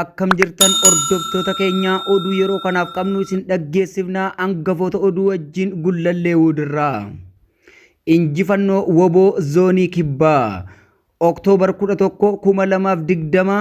Akkam jirtan hordoftoota keenya oduu yeroo kanaaf qabnu isin dhaggeessifna hangafoota oduu wajjin gullallee wuudirraa. Injifannoo woboo zoonii kibbaa Oktoobar 11 2020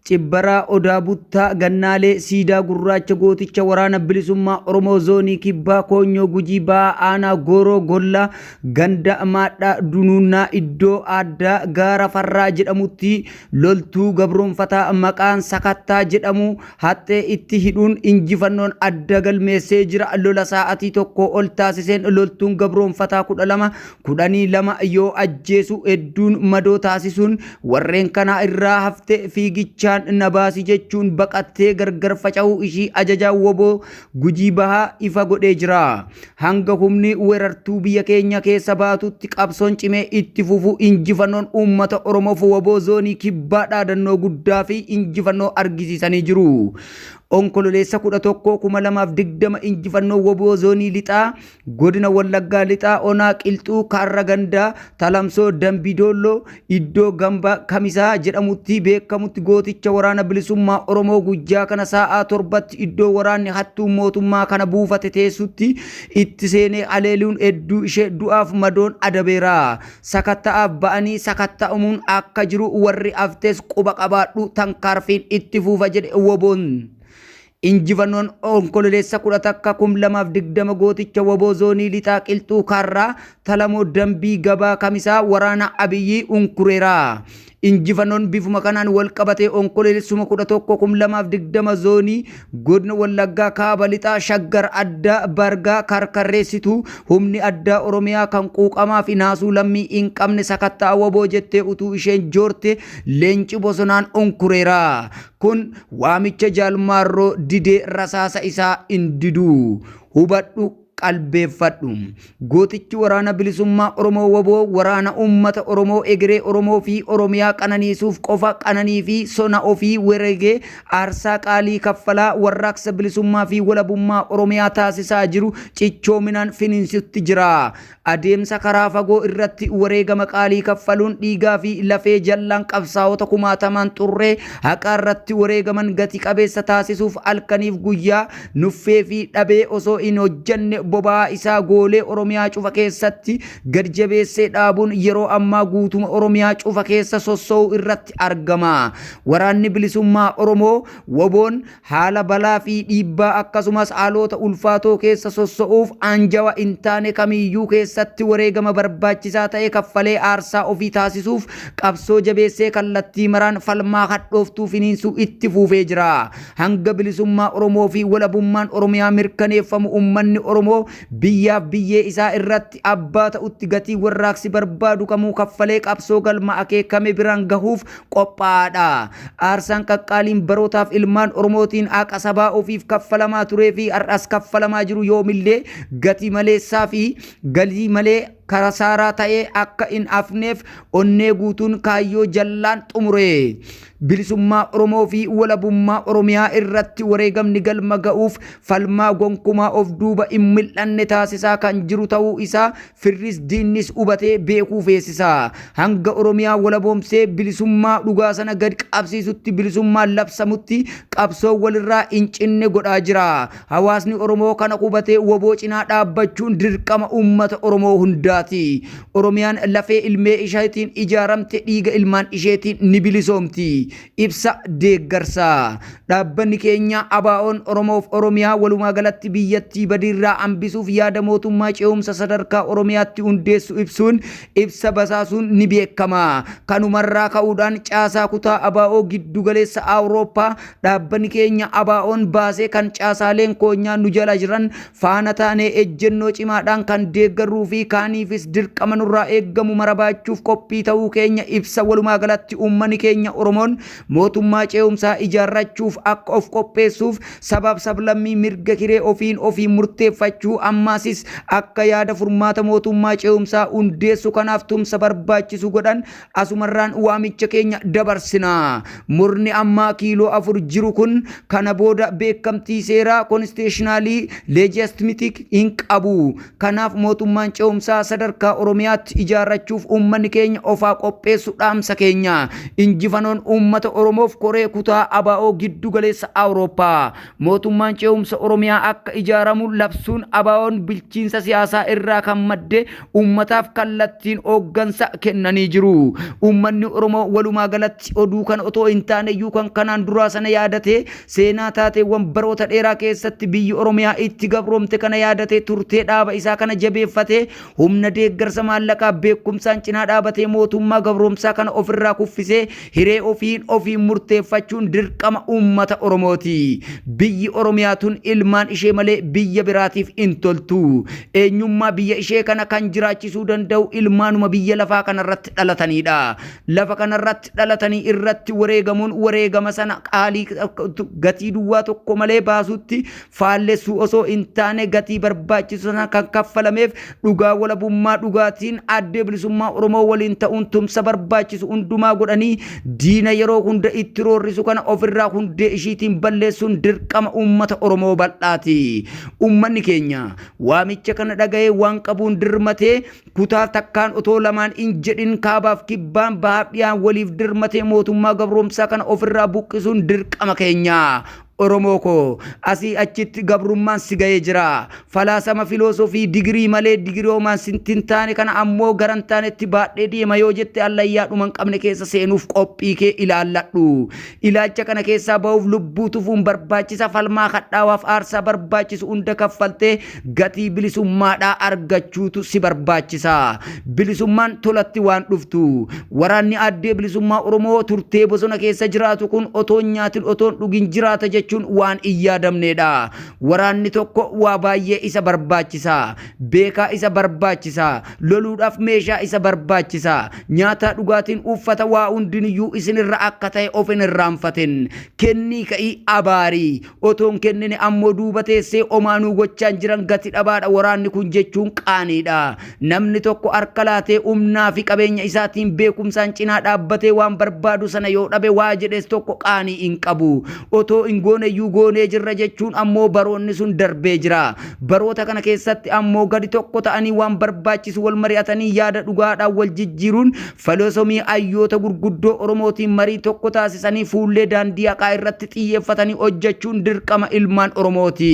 cibbaraa odaa buttaa gannaalee siidaa gurraacha gooticha waraana bilisummaa Oromoo zoonii kibbaa koonyoo gujii ba'aa aanaa gooroo gollaa Ganda Maadhaa Dunuunnaa iddoo aaddaa Gaara Farraa jedhamutti loltuu gabroonfataa maqaan Sakattaa jedhamu haxxee itti hidhuun injifannoon adda galmeessee jira. Lola saa'atii tokkoo ol taasiseen loltuun gabroonfataa 12, 12 yoo ajjeesu hedduun madoo taasisuun warreen kanaa irraa hafte fiigichaan na baasi jechuun baqattee gargar faca'uu ishii ajajaan wbo Gujii Bahaa ifa godhee jira. Hanga humni weerartuu biyya keenya keessa baatutti qabsoon cimee itti fufu injifannoon uummata Oromoof waboo zoonii kibbaa dhaadannoo guddaa fi injifannoo argisiisanii jiru. Onkololeessa 11, 2020 injifannoo waboo zoonii lixaa Godina Wallaggaa Lixaa Onaa Qilxuu Kaarra Gandaa Talamsoo Dambii Doolloo iddoo Gamba Kamisaa jedhamutti beekamutti gooticha Waraana Bilisummaa Oromoo guyyaa kana saa'aa torbatti iddoo waraanni hattuun mootummaa kana buufate teessutti itti seenee haleeluun hedduu ishee du'aaf madoon adabeera. Sakatta'aaf ba'anii sakatta'amuun akka jiru warri haftes quba qabaadhu tankaarfiin itti fuufa jedhe wbon. Injifannoon Onkololeessa 10 takka kum 2 fi 20 gooticha wbo Zoonii Lixaa Qilxuu Kaarraa Talamoo Dambii Gabaa Kamisaa waraana Abiyyii unkureera. Injifannoon bifuma kanaan wal qabatee Onkololeessuma 11 kum 2 fi 20 Zoonii Godina Wallaggaa Kaaba Lixaa Shaggar Addaa Bargaa karkarreessituu humni addaa Oromiyaa kan quuqamaa fi naasuu lammii hin qabne sakatta'a wbo jettee utuu isheen joortee leenci bosonaan unkureera. Kun waamicha Jaal Maarroo didee rasaasa isaa hin didu. Hubadhu, qalbeeffadhu. Gootichi Waraana Bilisummaa Oromoo wbo waraana uummata Oromoo, egeree Oromoo fi Oromiyaa qananiisuuf qofa qananii fi sona ofii weregee aarsaa qaalii kaffalaa warraaqsa bilisummaa fi walabummaa Oromiyaa taasisaa jiru cichoominaan finiinsutti jira. Adeemsa karaa fagoo irratti wareegama qaalii kaffaluun dhiigaa fi lafee jallaan qabsaa'ota kumaatamaan xurree haqaa irratti wareegaman gati qabeessa taasisuuf halkaniif guyyaa nuffee fi dhabee osoo hin hojjanne boba'aa isaa goolee Oromiyaa cufa keessatti gad jabeessee dhaabuun yeroo ammaa guutuma Oromiyaa cufa keessa sosso'uu irratti argama. Waraanni Bilisummaa Oromoo, WBOn, Haala balaa fi dhiibbaa akkasumas haaloota ulfaatoo keessa sosso'uuf aanjawa hin taane kamiiyyuu keessatti wareegama barbaachisaa ta'e kaffalee aarsaa ofii taasisuuf qabsoo jabeessee kallattii maraan falmaa hadhooftuu finiinsuu itti fuufee jira. Hanga bilisummaa Oromoo fi walabummaan Oromiyaa mirkaneeffamu ummanni Oromoo biyyaaf biyyee isaa irratti abbaa ta'utti gatii warraaqsi barbaadu kamuu kaffalee qabsoo galma akeekame biraan gahuuf qophaa'aadha. Aarsaan qaqqaaliin barootaaf ilmaan Oromootiin haqa sabaa ofiif kaffalamaa turee fi har'as kaffalamaa jiru yoomillee gatii maleessaa fi galii malee kasaaraa ta'ee akka hin hafneef onnee guutuun kaayyoo jallaan xumure. Bilisummaa Oromoo fi walabummaa Oromiyaa irratti wareegamni galma ga'uuf falmaa gonkumaa of duuba hin mil'anne taasisaa kan jiru ta'uu isaa Firris diinnis hubatee beekuu feesisa. Hanga Oromiyaa walaboomsee bilisummaa dhugaa sana gad qabsiisutti bilisummaan labsamutti qabsoo walirraa hin cinne godhaa jira. Hawaasni Oromoo kana hubatee wbo cinaa dhaabbachuun dirqama uummata Oromoo hundaati. Oromiyaan lafee ilmee isheetiin ijaaramte dhiiga ilmaan isheetiin ni bilisoomti. Ibsa deeggarsaa. Dhaabbanni keenya ABOn Oromoof Oromiyaa walumaa galatti biyyattii badiirraa hambisuuf yaada mootummaa ce'umsa sadarkaa Oromiyaatti hundeessu ibsuun ibsa basaasuun ni beekama. Kanumarraa ka'uudhaan caasaa kutaa abo giddu galeessa Awurooppaa dhaabbanni keenya ABOn baasee kan caasaaleen koonyaa nu jala jiran faana taanee ejjennoo cimaadhaan kan deeggarruu fi kaaniifis dirqama nurraa eeggamu mara baachuuf qophii ta'uu keenya ibsa walumaa galatti uummani keenya Oromoon mootummaa cee'umsaa ijaarrachuuf akka of qopheessuuf sabaaf sablammii mirga hiree ofiin ofiin murteeffachuu ammaasis akka yaada furmaata mootummaa cee'umsaa hundeessu kanaaf tumsa barbaachisu godhan Asumarraan waamicha keenya dabarsina. Murni ammaa kiiloo afur jiru kun kana booda beekamtii seeraa konsteeshinaalii leejiyastimitik hin qabu. Kanaaf mootummaan ce'umsaa sadarkaa Oromiyaatti ijaarrachuuf uummanni keenya ofaa qopheessu dhaamsa keenya. Injifanoon uummata Oromoof koree kutaa ABO giddu galeessa Awurooppaa. Mootummaan ce'umsa Oromiyaa akka ijaaramu labsuun ABOn bilchiinsa siyaasaa irraa kan madde ummataaf kallattiin hooggansa kennanii jiru. Ummanni Oromoo walumaa galatti oduu kana otoo hin taane iyyuu kan kanaan duraa sana yaadatee seenaa taateewwan baroota dheeraa keessatti biyyi Oromiyaa itti gabroomte kana yaadatee turtee dhaaba isaa kana jabeeffatee humna deeggarsa maallaqaa beekumsaan cinaa dhaabatee mootummaa gabroomsaa kana ofirraa kuffisee Hiree ofiin ofiin murteeffachuun dirqama uummata Oromooti. Biyyi Oromiyaa tun ilmaan ishee malee biyya biraatiif hin toltu. Eenyummaa biyya ishee kana kan jiraachisuu danda'u ilmaanuma biyya lafaa kanarratti dhalataniidha. Lafa kanarratti dhalatanii irratti wareegamuun wareegama sana qaalii gatii duwwaa tokko malee baasuutti faallessuu osoo hin taane gatii barbaachisu sana kan kaffalameef dhugaa walabummaa dhugaatiin addee bilisummaa Oromoo waliin ta'uun tumsa barbaachisu hundumaa godhanii diina yeroo hunda itti roorrisu kana ofirraa hundee ishiitiin balleessuun dirqama uummata Oromoo bal'aati. Uummanni keenya waamicha kana dhaga'ee waan qabuun dirmatee kutaa takkaan otoo lamaan hin jedhin kaabaaf kibbaan bahaaf dhiyaan waliif dirmatee mootummaa gabroomsaa kana ofirraa buqqisuun dirqama keenya. Oromoo koo, asii achitti gabrummaan si ga'ee jira. Falaasama filoosofii digirii malee digiriomaan sitti hin taane kana ammoo gara hin taanetti baadhee deema yoo jette hallayyaa dhuma hin qabne keessa seenuuf qophii kee ilaalladhu. Ilaalcha kana keessaa ba'uuf lubbuu tufuun barbaachisa, falmaa hadhaawaaf aarsaa barbaachisu hunda kaffaltee Gatii bilisummaadhaa argachuutu si barbaachisa. Bilisummaan tolatti waan dhuftu. Waraanni Addee Bilisummaa Oromoo turtee bosona keessa jiraatu kun otoon nyaatin otoon dhugin jiraata jechuun waan hin yaadamneedha. Waraanni tokko waa baay'ee isa barbaachisa. Beekaa isa barbaachisa. Loluudhaaf meeshaa isa barbaachisa. Nyaataa dhugaatiin uuffata waa hundiniyyuu isinirra akka ta'e of hin irraanfatin. Kennii ka'ii abaarii. Otoo hin kennine ammoo duuba teessee omaa nuu gochaan jiran gati dhabaadha waraanni kun jechuun qaaniidha. Namni tokko harka laatee humnaa fi qabeenya isaatiin beekumsaan cinaa dhaabbatee waan barbaadu sana yoo dhabe waa jedhes tokko qaanii hin qabu. Otoo hin gooneyyuu goonee jirra jechuun ammoo baroonni sun darbee jira. Baroota kana keessatti ammoo gadi tokko ta'anii waan barbaachisu wal mari'atanii yaada dhugaadhaan wal jijjiiruun Faloosomii hayyoota gurguddoo Oromootiin marii tokko taasisanii fuullee daandii haqaa irratti xiyyeeffatanii hojjechuun dirqama ilmaan Oromooti.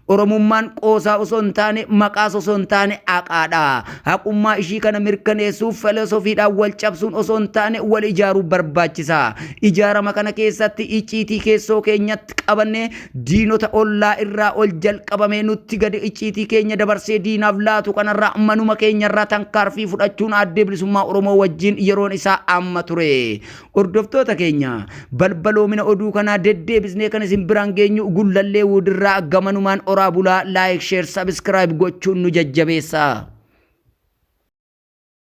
Oromummaan qoosaa osoo hin taane, maqaas osoo hin taane haqaadha. Haqummaa ishii kana mirkaneessuuf faloosofiidhaan wal cabsuun osoo hin taane wal ijaaruu barbaachisa. Ijaarama kana keessatti icciitii keessoo keenyatti qabannee Diinota ollaa irraa ol jalqabamee nutti gade icciitii keenya dabarsee diinaaf laatu kanarraa manuma keenyarraa tankaarfii fudhachuun Aaddee Bilisummaa Oromoo wajjiin yeroon isaa amma ture. Hordoftoota keenya, balbaloomina oduu kanaa deddeebisnee kan isin biraan geenyu Gullallee Wuudirraa gamanumaan oraa bulaa like share subscribe gochuun nu jajjabeessaa.